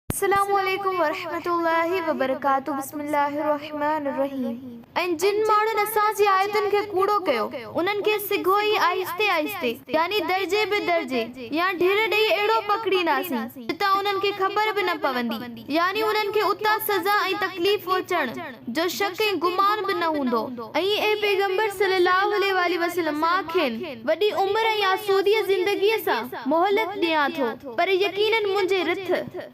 السلام عليڪم ورحمة الله وبرڪاته بسم الله الرحمٰن الرحيم ۽ جن ماڻهن اسان جي آيتن کي ڪوڙو ڪيو انهن کي سگهو ئي آهستي آهستي يعني درجي به درجي يا ڍير ڏئي اهڙو پڪڙينداسين جتان انهن کي خبر به نه پوندي يعني انهن کي اتان سزا ۽ تڪليف پهچڻ جو شڪ ۽ گمان به نه هوندو. ۽ اي پيغمبر صلّي اللّٰه عليه واٰله وسلّم! مان کين وڏي عمر ۽ آسوديء زندگيء سان مهلت ڏيان ٿو، پر يقيناً منهنجي رٿ،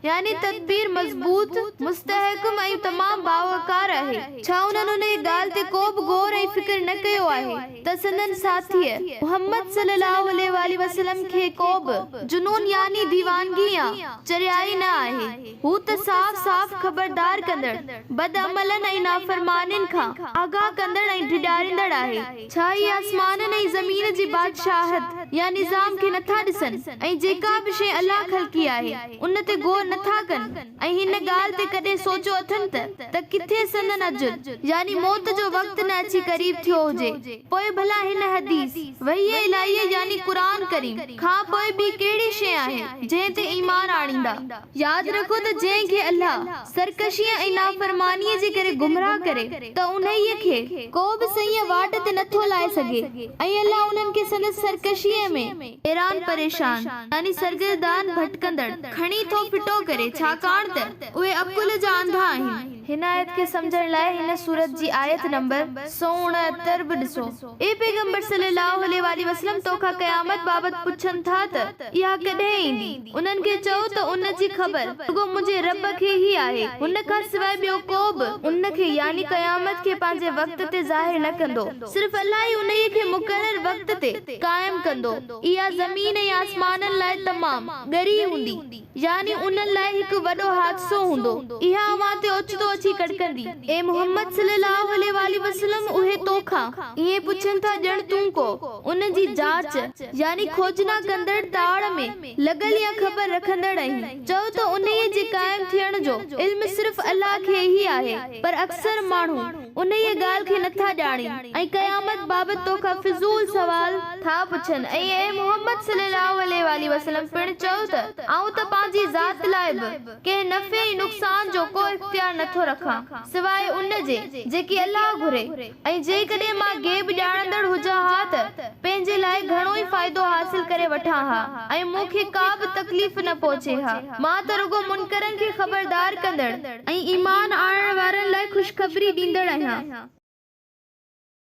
يعني تدبير، مضبوط، مستحڪم ۽ تمام باوقار آهي. ڇا انهن انهيء ڳالهه تي ڪو به غور ۽ فڪر نه ڪيو آهي ته سندن ساٿيء، محمّد صلّي اللّٰه عليه واٰله وسلّم، کي ڪو به جنون يعني ديوانگي يا چريائي نه آهي؟ هو ته صاف صاف خبردار ڪندڙ، بدعملن ۽ نافرمانين کان آگاهه ڪندڙ ۽ ڊيڄاريندڙ آهي. ڇا اهي آسمانن ۽ زمين جي بادشاهت يا نظام کي نٿا ڏسن ۽ جيڪا به شيء الله خلقي آهي، ان تي غور نٿا ڪن ۽ هن ڳالهه تي ڪڏهن سوچيو اٿن ته ته ڪٿي سندن اجل يعني موت جو وقت نه اچي قريب ٿيو هجي؟ پوء ڀلا هن حديث، وحي الاهيء يعني قرآن ڪريم، کان پوء ٻي ڪهڙي شيء آهي، جنهن تي ايمان آڻيندا؟ ياد رکو ته جنهن کي الله سرڪشيء ۽ نافرمانيء جي ڪري گمراهه ڪري ته انهيء کي ڪو به صحيح واٽ تي نه ٿو لائي سگهي ۽ الله انهن کي سندس سرڪشيء ۾ حيران پريشان يعني سرگردان ڀٽڪندڙ کڻي ٿو ڦٽو ڪري ڇاڪاڻ ته اهي عقل جا انڌا آهن. هن آيت کي سمجهڻ لاء هن سورت جي آيت نمبر سؤ اڻهتر به ڏسو. اي پيغمبر صلّي اللّٰه عليه واٰله وسلّم توکان قيامت بابت پڇن ٿا ته اها ڪڏهن ايندي؟ انهن کي چئو ته ان جي خبر رڳو منهنجي ربّ کي ئي آهي، هن کان سواء ٻيو ڪو به ان کي، يعني قيامت کي، پنهنجي وقت تي ظاهر نه ڪندو، صرف الله ئي انهيء کي مقرر وقت تي قائم ڪندو، اها زمين ۽ آسمانن لاء تمام ڳري هوندي. يعني انهن لاء هڪ وڏو حادثو هوندو. اها اوهان تي اوچتو اچي ڪڙڪندي. اي محمد صلي الله عليه واٰله وسلم اهي تو کان ائين پڇن ٿا ڄڻ تون ڪو ان جي جاچ، يعني کوجنا ڪندڙ، تاڙ ۾ لڳل يا خبر رکندڙ آهين. چؤ ته انهيء جي قائم ٿيڻ جو علم صرف الله کي ئي آهي، پر اڪثر ماڻهو. انهيء ڳالهه کي نٿا ڄاڻين ۽ قيامت بابت تو کان فضول سوال ٿا پڇن ۽ اي محمد صلي الله عليه واٰله وسلم پڻ چئو ته آئون ته پنهنجي ذات لاء به ڪنهن نفعي ۽ نقصان جو ڪو اختيار نٿو رکان سواء ان جي جيڪي الله گهري ۽ جيڪڏهن مان غيب ڄاڻندڙ هجان ها ته پنهنجي لاء گهڻو ئي فائدو حاصل ڪري وٺان ها ۽ مون کي ڪا به تڪليف نه پهچي ها مان ته رڳو منڪرن کي خبردار ڪندڙ ۽ ايمان آڻڻ وارن لاء خوشخبري ڏيندڙ آهيان.